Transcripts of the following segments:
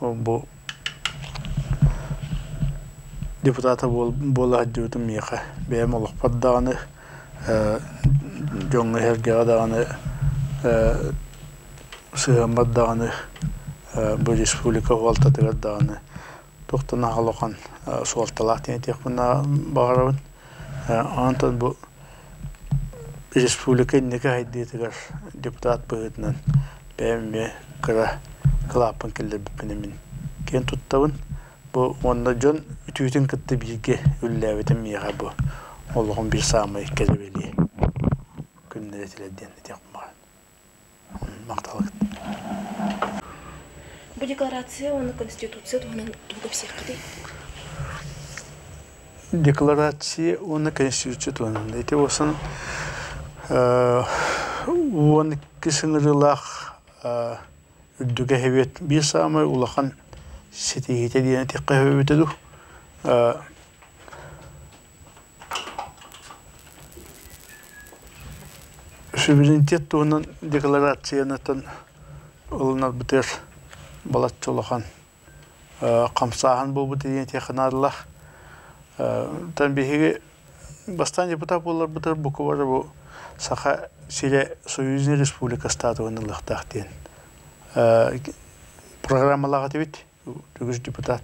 Бу депутата буола сылдьыбытым миэхэ бэйэм олохпор даҕаны дьоҥҥо иһэргэҕэ даҕаны сыһыаммар даҕаны бу республика суолтатыгар даҕаны туох да наһаа улахан суолталаах диэн этиэхпин баҕарабын онтон бу Республика инники сайдыытыгар депутат быһыытынан бэйэм эмиэ кыра кылааппын киллэрбиппин эмин киэн туттабын. Бу уонна дьон үтүөтүн кытта бииргэ үллээбитим миэхэ бу олоҕум биир саамай кэлэбэлиэ күннэрэ этилэр диэн этиэхпин баҕарабын. Бу декларация уонна Конституция туһунан тугу кэпсиэххитий? Декларация уонна Конституция туһунан. Ити буолсан уон иккис ыҥырыылаах үрдүкэ эһэбиэт биир саамай улахан ситиһиитэ диэн этиэххэ сөбүбүтэ дуу суверенитет туһунан декларациянытын ылынарбытыгар балачча улахан хамсааһын буолбут диэн этиэхэ наадалаах тан биһиги бастаан депутат буоларбытыгар букубара бу саха сирэ союзный республика статуһун ылыахтаах диэн программалаах этибит үгүс депутат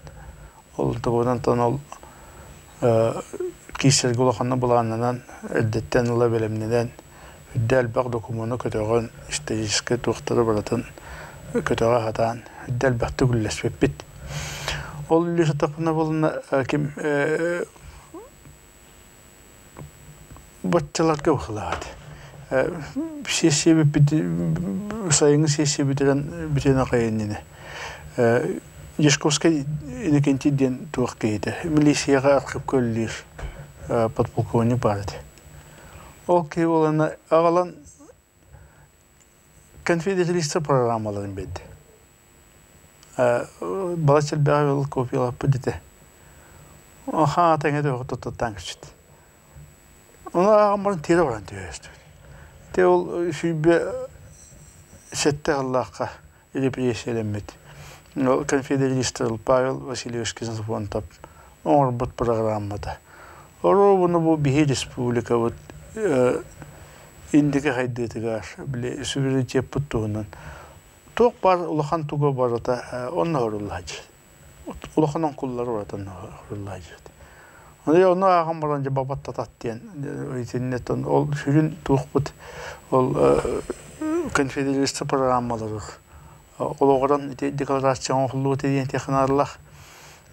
ол тобуынан тон ол киирсэргэ улаханна былааннанан эрдэттэн ыла бэлэмнэнэн үрдэ элбэх докумуону көтөҕөн историческай туохтары барытын көтөҕө сатаан үрдэ элбэхтик үллэспиппит ол үллэ сыттахпына болынна ким Баччаларга быһылаат. Сессия сайыҥҥы сессия бүтэрэн бүтэн аҕай иннинэ Дьячковскай Иннокентий диэн туох киһитэ милицияҕа архыыпка үлэлиир подполковник баар этэ. Ол киһи буоланна аҕалан Конфидетелистия программаларын биэрдэ. Балачча элбэҕи ыл купиялаппыт ити. Хаана тэҥэ төбөҕө туттуттаан кэчит. Ону ааҕан баран тиэрэ баран түһэстибит. Ити ол сүүрбэ сэттэ сыллаахха репрессиялэммит. Ол конфидетелистер Павел Васильевич Ксенофонтов оҥорбут программата. Оруобуна бу биһи республикабыт Индике хайдыытыгар, били, суверенитеппыт туһунан туох баар улахан туга барыта онно оруллуһа дьиит. Улахан оҥкуллары уратан оруллуһа дьиит. Аны ону ааҕан баран дьэ бабаттатат диэн итиннэтэн ол сүрүн туохпут ол конфедерация программалары олоҕуран ити декларация оҥоһуллубут диэн технарылах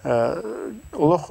олох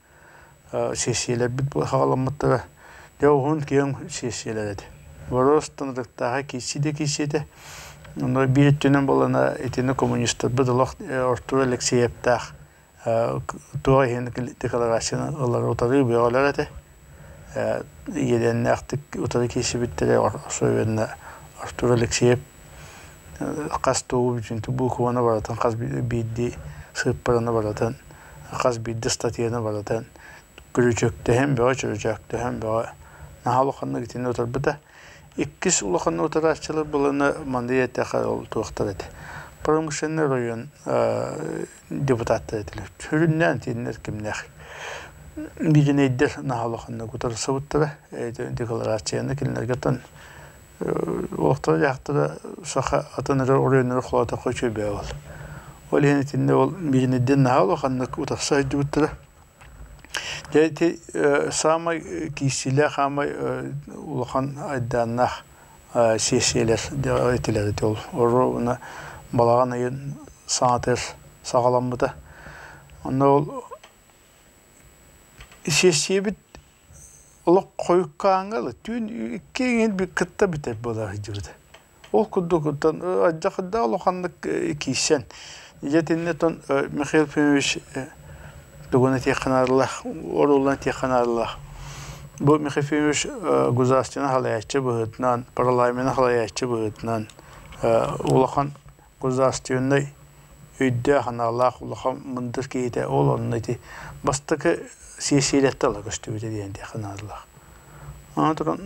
сессияларбыт саҕаламмыттара дьэ уһун киэҥ сессиялар этэ бороос ытыктааҕа киирсии да киирсии этэ онно биир өттүнэн буоллана итини коммунистарбыт олох Артур Алексеевтаах туох иһин декларацияны ылары утары бөҕөлөр этэ иэдээннээхтик утары киирсибиттэрэ особенно Артур Алексеев хас тугу букубаны барытын хас биирдии сыыппараны барытын хас биирдии статьяны барытын күрүчөктөһөн бөҕө чүрүчөктөһөн бөҕө наһаа улаханнык итини утарбыта иккис улаханнык утарааччылар быланы маны этиэхэ ол туохтар этэ промышленный оройуон депутаттар этилэр сүрүннээн итиннэр кимнээх мииринэйдэр наһаа улаханнык утарсыбыттара декларацияны кинилэргэ тон Олохтоох дьахтара саха атын эрэ оройуоннара холоотоххо үчүгэйбээҕэ ол. Ол иһин итиннэ ол биириниддин наһаа улаханнык утахса сылдьыбыттара. Дьэ ити саамай киирсиилээх, саамай улахан айдааннаах сессиялар дьэ этилэр ити ол. Оруобуна балаҕан ыйын саатар саҕаламмыта. Онно ол сессиябыт Олох хойуккааҥҥа ылы түүн иккиҥин кытта бүтэр буола сылдьыбыт. Ол курдук оттон дьахарда улаханнык киирсэн дьэтиннэ оттон Михаил Ефимович тугун этиэххэ наадалаах оруоллан этиэххэ наадалаах бу Михаил Ефимович государственнай салайааччы быһыытынан парламеннай салайааччы быһыытынан улахан Государственнай өйдөөх-аналаах улахан мындыр киһитэ ол онно ити бастакы сиэссийэлэртэн ыла көстүбүтэ диэн диэххэ наадалаах. Аны туран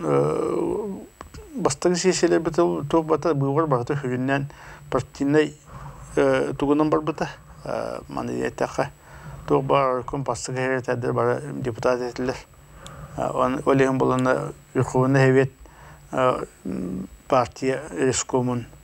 бастакы сиэссийэлэрбит туох барыта быыбар барыта үһүгүннээн партийнай тугунан барбыта маны диэтэххэ туох баар оройкон бастакы секретардара бары депутат этилэр ол иһин буоланна Верховный Совет партия рескомун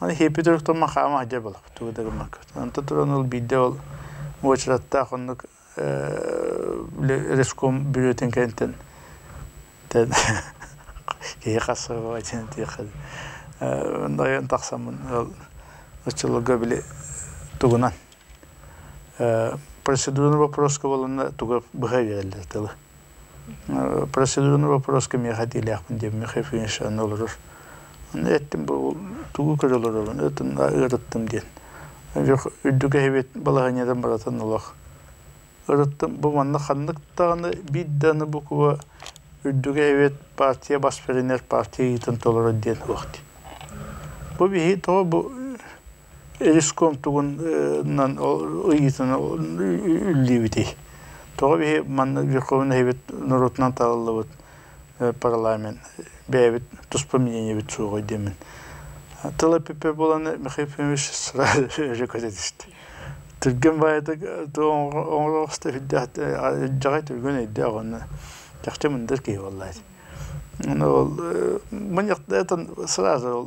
Египет ортом макаама дьэ была тугу да гыммакка онто туран ол биирдэ ол уочараттаах оннук реском бүрүөтүн кэнтэн тэн киһи хасыабай диэн диэххэ онно ойон тахсаммын ол оччолорго били тугунан процедурный боппуруоска буоланна туга быһа үөрэллэр тылы Процедурный вопрос кимиэхэ этиилээхпин диэм Михаил Ильич онно олорор аны эттим бу тугу көрө олорорун ыарыттым диэн дьох үрдүк эһэбит балаһыанньатын барытын олох ырыттым бу манна ханнык даҕаны биир даны букуба үрдүк эһэбит партия бас беринер партия ыйытын толорор диэн суох дии бу биһи тоҕо бу Ис куомтугун ыйыытын үллүүбүтүй? Тоҕо биһи манна Верховный Совет норуотунан талыллыбыт парламент бэйэбит туспа мнениебит суоҕуй диэммин. Тыла эппиппэр буолан Михаил Ефимович сразу өрө көтө түстэ. Түргэн баайда оҥороҕосто сүрдээх алдьархай түргэн өйдөөх уонна чахчы мындыр киһи буоллаат. Ол мунньахтатан сразу ол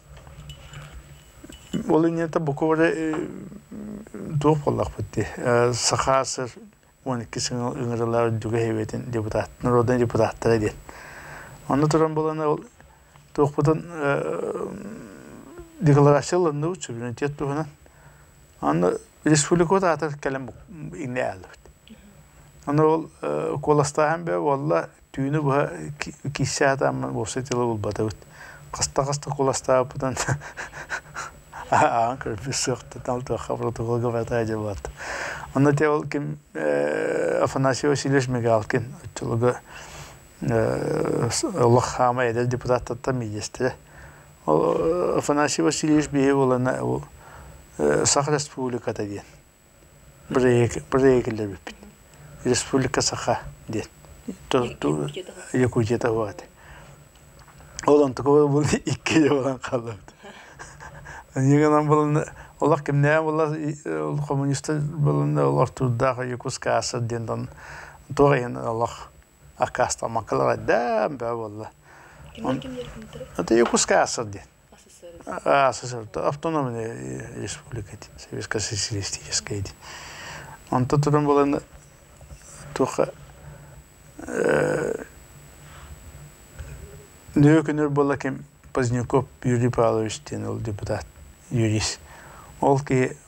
Ол иннинэ букубары туох буоллахпыт дии саха сир уон иккис ыҥырыылаах Дүгэй эбиэтин депутат народнай депутаттара диэн онно туран булана ол туохпутун декларация ылынныбыт суверенитет туһунан онно республикабыт аатын кэлэн иннэ ааллыбыт онно ол куоластааһын бөҕө буолла түүнү быһа киирсэ атааммын уопсай тыла булбатыбыт хаста-хаста куластаабыппытын ааҕан көрбүт суохтан алтыахха протокол габатаа дьабаат онно те ол ким афанасий васильевич мигалкин оччолорго олох хаама эдэр депутаттаттан миэстэ ол афанасий васильевич биһи буолана сах республиката диэн Проигрываппыт Республика Саха диэн Якутията баҕат ол онтукуба була икки буолан хааллыбыт аны гынан булунна олох кимнээх була коммунистар булунна олох турдаах Якутскаасыр диэн дон туох иһин олох аккаастамаккалар айдаан баа буолла это Якутскаасыр диэн автономная республика этит советско социалистическая этит онто туран булан туха нөкүнөр бола ким Поздняков Юрий Павлович диэн ол депутат юрист ол киһи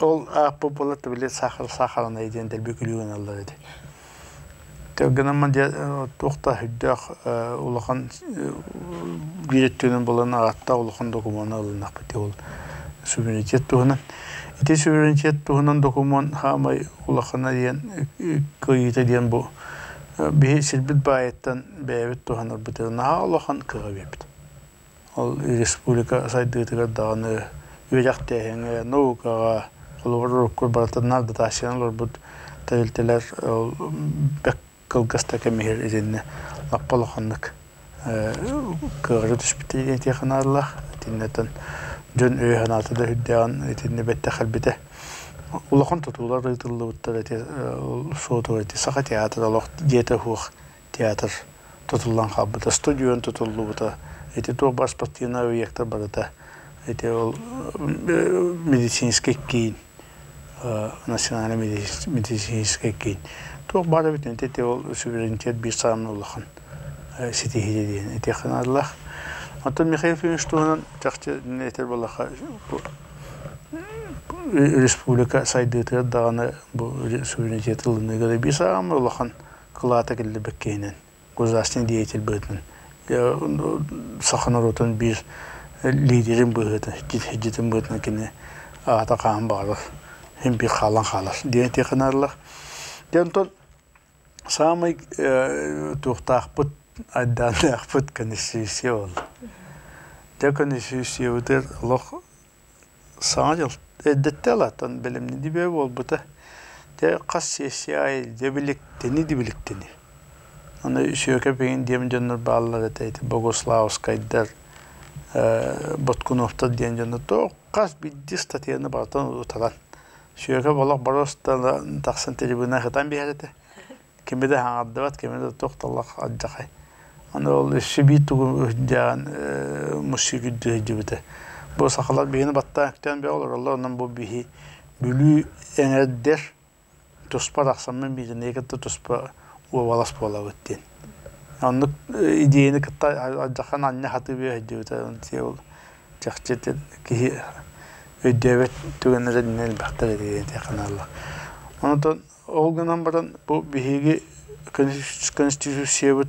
Ол ааппыт буоллар били саахарынай диэн дэлби күлүү гыналлар ити. Кэргэним туох да сүрдээх улахан буолан аатта улахан докумуона ылыннахпытый ол суверенитет туһунан. Ити суверенитет туһунан докумуон хаамай улахана диэн кыайыыта диэн бу биһи сирбит баайыттан бэйэбит туһанарбытыгар наһаа улахан кыаҕы биэрбит. Ол республика сайдыытыгар даҕаны, үөдэх-тээһиҥҥэ, наукаҕа, холобур, урукку барытыннан дотациянан олорбут тэрилтэлэр ол бэрт кылгас да кэм иһигэр итиннэ лаппа улаханнык кыаҕыра түспүтэ этиэх аналлаах. Итиннэтэн дьон өйө-санаата да үрдээҕин итиннэ бэттэх кэлбитэ. Улахан тутуулар ыытыллыбыттар эти, суотугар эти Саха театра олох дьиэтэ суох театр тутуллан хаалбыта, студион тутуллубута. Ити туох бар спортивнай объектар барыта ити ол медицинский киин, национальный медицинский киин. Туох баара бүтүн ити ол суверенитет биир саамна улахан ситиһиэ диэн этиэханааллаах. Оттон Михаил Федорович туһунан чахчы этэр балаха республика сайдыытыгар даҕаны бу суверенитет ылыныыга биир саамна улахан кылаата киллэрбит киһинэн государственный деятель быһыытын саха норуотун биир лидерин быһыытын дьитин быһыытын кини аата хаан баҕарар химпи хаалан хаалар диэн этиэх гынарлар дэ онтон саамай туохтаахпыт айдааннаахпыт конституция буолла дьэ конституциябытыгар олох Саҥа дьыл эрдэттэ алаатан бэлэмнэнии бэйэ буолбута. Дьэ хас сессия аайы дьэ биликтэнии да биликтэнии. Аны үсүөкэ пейин диэн дьоннор бааллар этэ ити богуславскайдар ээ Боткуновтар диэн дьоннор тоох хас биирдии статьяны барытын утаран сүөкэ олох боруоста да тахсан трибунаҕа ытан биэрэр этэ кими да хаҥардыбат, кими да туох-талах алдьахай. Аны ол Сибиир тугун үһдээҕин муссуйгут дьүһүйдүбүтэ. Бу сахалар биһини баттаан күтэн бе олороллор, онон бу биһи Бүлүү эҥэрдэр туспа тахсаммын биитине кытта туспа уобалас буолабыт диэн. Оннук идеяны кытта алдьахан анна хатыы бөһдүбүтэ. Ол чахчы киһи өйдөөбөт түгэннэринэн бахтар этиэханалла. Онтон Ол гынан баран бу биһиги Конституциябыт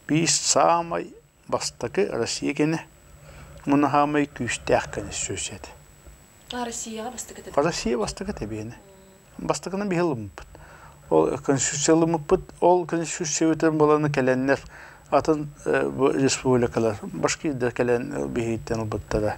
биир саамай бастакы Россия кэнэ мунаһаамай күүстээх конституция этэ. А Россияҕа бастакы тэбиэнэ. Россия бастакы тэбиэнэ. Бастакынан биһи ылыммыппыт. Ол конституция ылыммыппыт. Ол конституциябытын баланы кэлэннэр атын республикалар башкирдар кэлэн биһиттэн ылбыттара.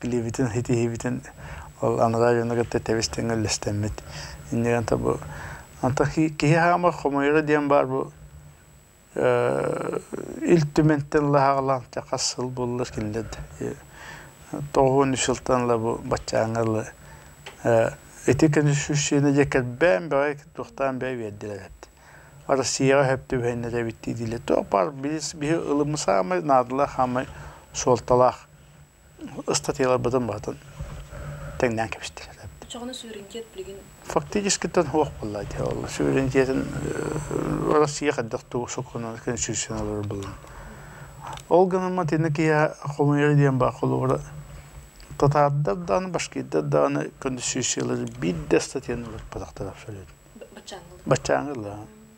билиибитин-ситиһиибитин ол анараа дьону кытта тэбис-тэҥҥэ үллэстэммит. Иннигэ anta бу anta киһи хаамар хомойоро диэн баар бу Ил Түмэнтэн лаһаҕалаан хас сыл буллар кинилэр тоҕуһун үс сылтан ла бу баччааҥҥа ла ити конституцияны дьэ кэлбээн бэҕэй туохтаан бэйэ биэрдилэр эт Россияҕа сөп түбэһиннэр эбиттии диилэр туох баар биһи ылымы саамай наадалаах хаамай суолталаах ыстатыйаларбытын барытын тэҥнээн кэбистилэр. Чоҕуну суверенитет билигин фактическитин суох булла ол суверенитетин Россия хайдах туу суккуна конституцияны олорор булун. Ол гынан матины кия холуйар диэн бар холура татардар дааны башкирдар дааны конституциялар биир да статьяны олорпатахтар абсолютно. Баччаангылар. Баччаангылар.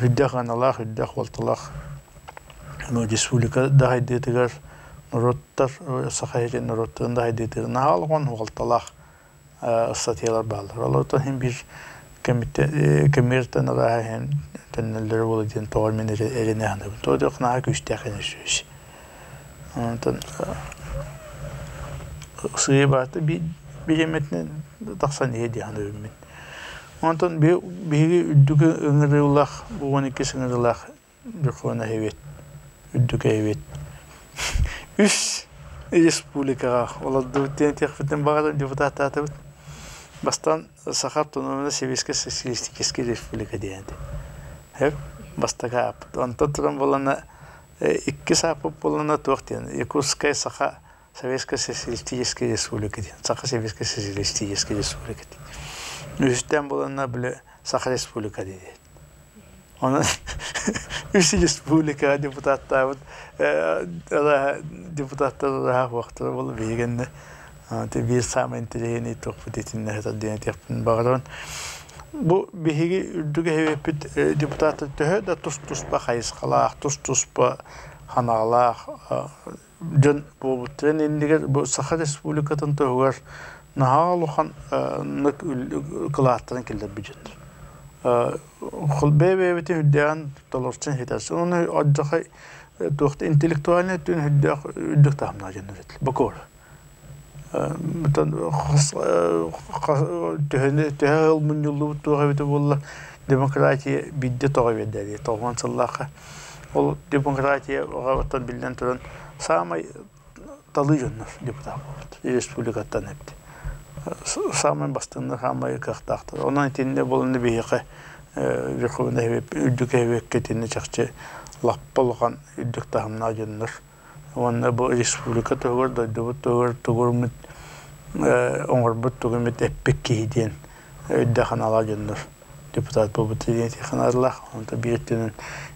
Үрдэх аналаах, үрдэх уолталаах республика дайдыытыгар норуоттар саха иһитин норуоттарын дайдыытыгар наһаа улахан уолталаах ыстатыйалар бааллар. Олортон иһин бир кэмиэртэн арааһа иһин төннөллөрө буолуо диэн тоҕо мин эрэнэ саныыбын. Тоҕо диэх наһаа күүстээх ини сүөс. Онтон сыйы баата бириэмэтинэн тахсан иһэ диэн саныыбын. Онтон биһиги үрдүкү ыҥырыылаах уон иккис ыҥырыылаах Дьокуона эһэбит үрдүкү эһэбит үс республикаҕа олордубут диэн этиэхпитин баҕарар депутаттаатыбыт бастаан саха автономнай сэбиэскэй социалистическай республика диэн этэ бастакы ааппыт онтон туран буоллана иккис ааппыт буоллана туох диэн якутская саха Советскай Социалистическай Республика диэн Саха Советскай Социалистическай Республика диэн. Үһүстээн буланна били Саха Республика диэн. Онон үс республикаҕа депутаттаабыт депутаттар ылаһах уоктура болу биһигэнне биир самый интеллигентный топпут итинне хатар диэн этиэппин баҕарон бу биһиги үрдүгэ хевеппит депутаттар төһө да тус туспа хайысхалаах тус туспа ханаалаах дьон буолбуттарын иннигэр бу Саха Республикатын туһугар наһаа улаханнык кылааттарын киллэрбитин холбе бэйэбитин үрдээн толорчун хитас оны отжахай туохта интеллектуальный түн үрдөх үрдөх таһымна жөннөрөт бокор төһөнү төһө сыл мунньуллубут туох эбитэ буоллар демократия биирдэ тоҕо эбиэрдээбитэй тоҕуон сыллаахха ол демократия оттон биллэн туран саамай талыы дьоннор депутат буолбут республикаттан эбит саамай бастыҥнар саамай кыахтаахтар онон итиннэ буолан биһиэхэ верховнай үрдүк эһэбиэккэ итиннэ чахчы лаппа улахан үрдүк таһымнаах дьоннор уонна бу республика туһугар дойдубут туһугар тугурмут оҥорбут тугумут эппит киһи диэн өйдө-санаалаах дьоннор депутат буолбут диэн санаалаах онто биир өттүнэн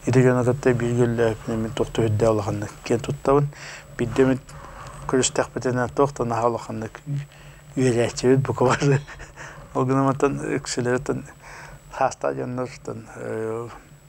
ити дьону кытта биир гөллөөпүн эмин туох түһүрдэ улаханнык киэн туттабын бирдэ эмит көрүстэхпитинэ туох да наһаа улаханнык үөрээччибит бука бары ол гынан мантан үксүлөрүттэн саастаах дьоннортон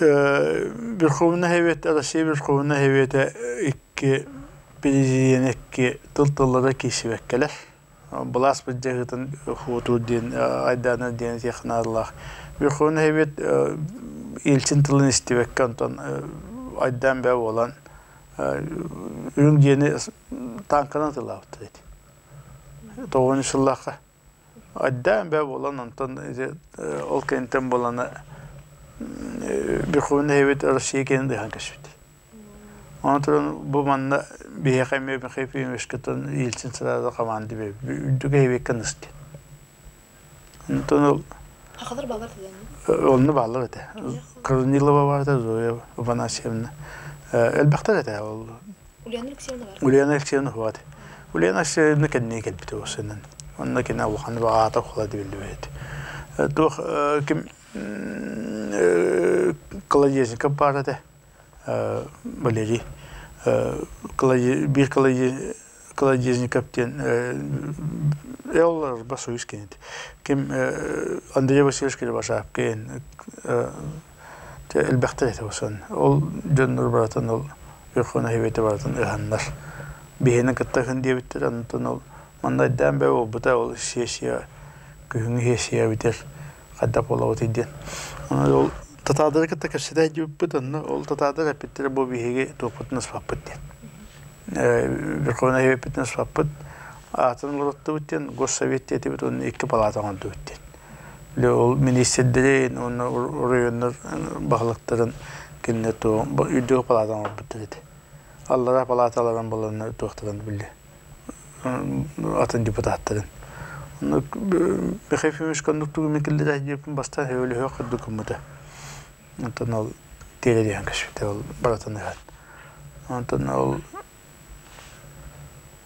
Верховнай Эбиэт Россия Верховнай Эбиэтэ икки президиэнэ икки тыл тыллара киирсибэккэлэр. Былаас былдьаһыытын хотуур диэн айдаана диэн этиэх наадалаах. Верховнай Эбиэт илчин тылын истибэккэ онтон айдаан бэйэ буолан үрүҥ дьиэни таанканан атыылаабыттар эти. Тоҕуонньу сыллаахха Айдаан бээ буолан онтон ити ол кэнниттэн буолана Бехуна эһэбит Россия киэнин ыйхан кэспит. Ону туран бу манна биһиэхэ эмиэ Михаил Ефимовичкаттан иилсин сыраада команды бээ үрдүк эһэбиккэ ныс диэн. Онтон ол Хахалар баалар тэлээн. Онну баалар этэ. Корнилова барда Зоя Афанасьевна. Элбэхтэр этэ ол Ульяна Алексеевна уһуоҕа. Ульяна Алексеевна кэнники кэлбит ол сынан. Онно кини улахан баҕаата холо дебилбэт. Туох ким Колодезников баар этэ. Валерий биир Колодезников диэн Эл Басуис кенет. Ким Андрей Васильевич Кривошапкин Чэ, элбэхтик этэ ушан. Ол дьоннор барытын ол Өлхөн эһэбиэти барытын ыһаннар, биһиэнин кытта ыһын диэбиттэр, онтон ол манна айдаан бэйэ буолбута, ол сессия, күһүҥҥү сессия бүтэр, хайдах буолабытый диэн. Аны ол татаардары кытта кэпсэтэ илдьибиппит, онно ол татаардар эппиттэрэ бу биһиги туохпутун аспаппыт диэн. Өлхөн эһэбиэппитин аспаппыт, аатын олороттубут диэн Госсовет диэтибит уонна икки палаата оҥордубут диэн. ол министрдэрин уонна оройуоннар баһылыктарын кинилэр туох үдүө палаатаны оҥорбуттар ити аллараа палааталарын баланнар туохтарын биллэ атын депутаттарын Михаил Фимович кондук тугумен киллире диэппин бастан хөвөлөһө курдук гыммыта онтон ол тиэрелиһэн көспүтэ ол баратан ыһат онтон ол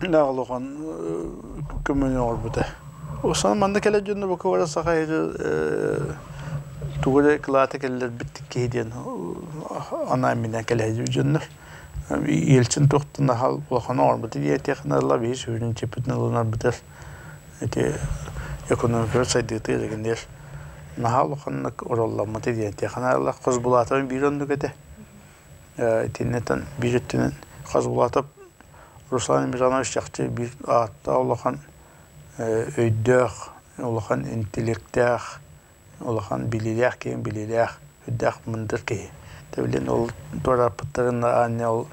Даах улахан көмөнү оҥорбута. Устан манна кэлэр дьонно бука бара сахайга тугу эрэ кылааты кэллэрбиттик киһи диэн анаан минээн кэлэһи дьоннор иэлчин туохтан ахал улахана оҥорбуту диэтиэхинэ ыла биһи сүрүн чиппитин ылынарбытыгар ити экономикабыт сайдыытыгар дэгиниэр наһаа улаханнык оролломмуту диэтиэхинэ ыла хос булаатыбын биир оннук этэ Итиннэтэн биир өттүнэн хас улаатар Руслан Ибрагимович чахчы биир ааттаах улахан өйдөөх, улахан интеллекттээх, улахан билиилээх киһи, билиилээх, өйдөөх мындыр киһи. Тэбилин ол туорааппыттарын аанньа ол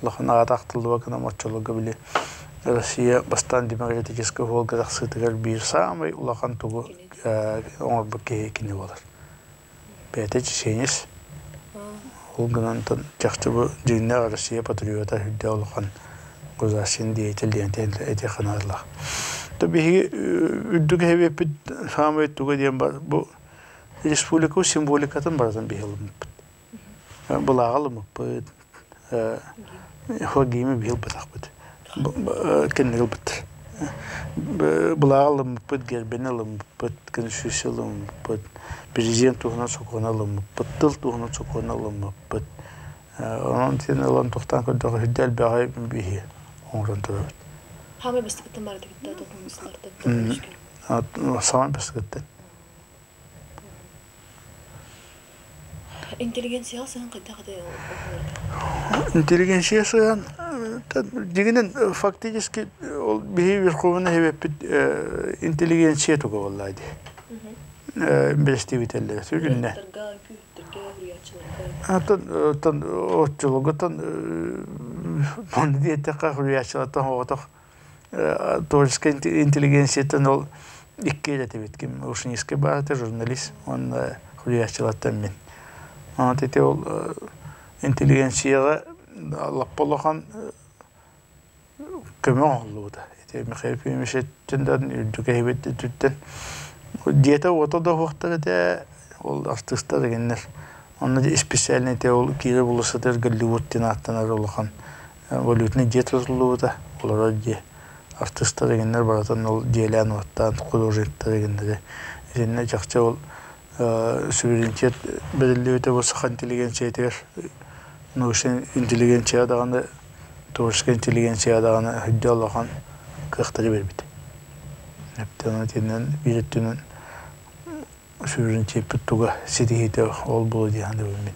улахан аата ахтыллыбат гынан оччолорго били Россия бастаан демократическай уолга тахсыытыгар биир саамай улахан тугу оҥорбут киһи кини буолар. бэйэтэ чеченец ол гынан чахчы бу дьиҥнээх Россия патриота үрдэ улахан государственный деятель диэн этиэх аналлаах то биһиги үрдүк эһэбиэппит саамай туга диэн бар бу республика символикатын барытын биһи ылыммыппыт былааҕы ылыммыппыт Хоккеймы биһи ылбатахпыт. Кэнники ылбыттар. Былаҕы ылыммыппыт, гербэни ылыммыппыт, конституция ылыммыппыт, президент туһунан сокуону ылыммыппыт, тыл туһунан сокуону ылыммыппыт. Онон син ылан тохтоон көрдөххө сүрдэ элбэҕи биһи оҥорон турабыт. Самый бастакыттан барытыгыттан токумустарыттан саамай бастакыттан. Интеллигенцияҕа сыһан хайдах этэй оҕолор? Интеллигенция сыһан дигинин фактически ол биһи Верховный Совеппит интеллигенция туга боллаа ди. Бэстибителлер сүгүннэ. Атын оттон отчулугутан манна диэтэххэ хуйаачылатан оҕотох творческай интеллигенцияттан ол икки ил этибит ким ушницкай баата журналист уонна суруйааччылартан мин от ити ол интеллигенцияҕа лаппа улахан көмө оҥоһуллубута ити михаил пемешеттин да үрдүк эһэбит өттүттэн дьиэтэ-уота да уһуохтар этэ ол артыыстар дэгэннэр онно испециальнай те ол киирэ була сытар голливуд диэн ааттанар улахан Валютнай дьиэ тутуллубута. Олорор дьиэ артыыстар игиннэр барытын ол дьиэлээн-уоттаан художниктар игиннэри итиннэ чахчы ол сүрүнчэт бэриллибитэ бу саха интеллигенциятыгар научнай интеллигенция даҕаны творческай интеллигенция даҕаны өйдө улахан кыахтары биэрбит. Оттон итиннэн биир өттүнэн сүрүнчэппит туга ситиһиитэ ол буолуо дии саныыбын мин.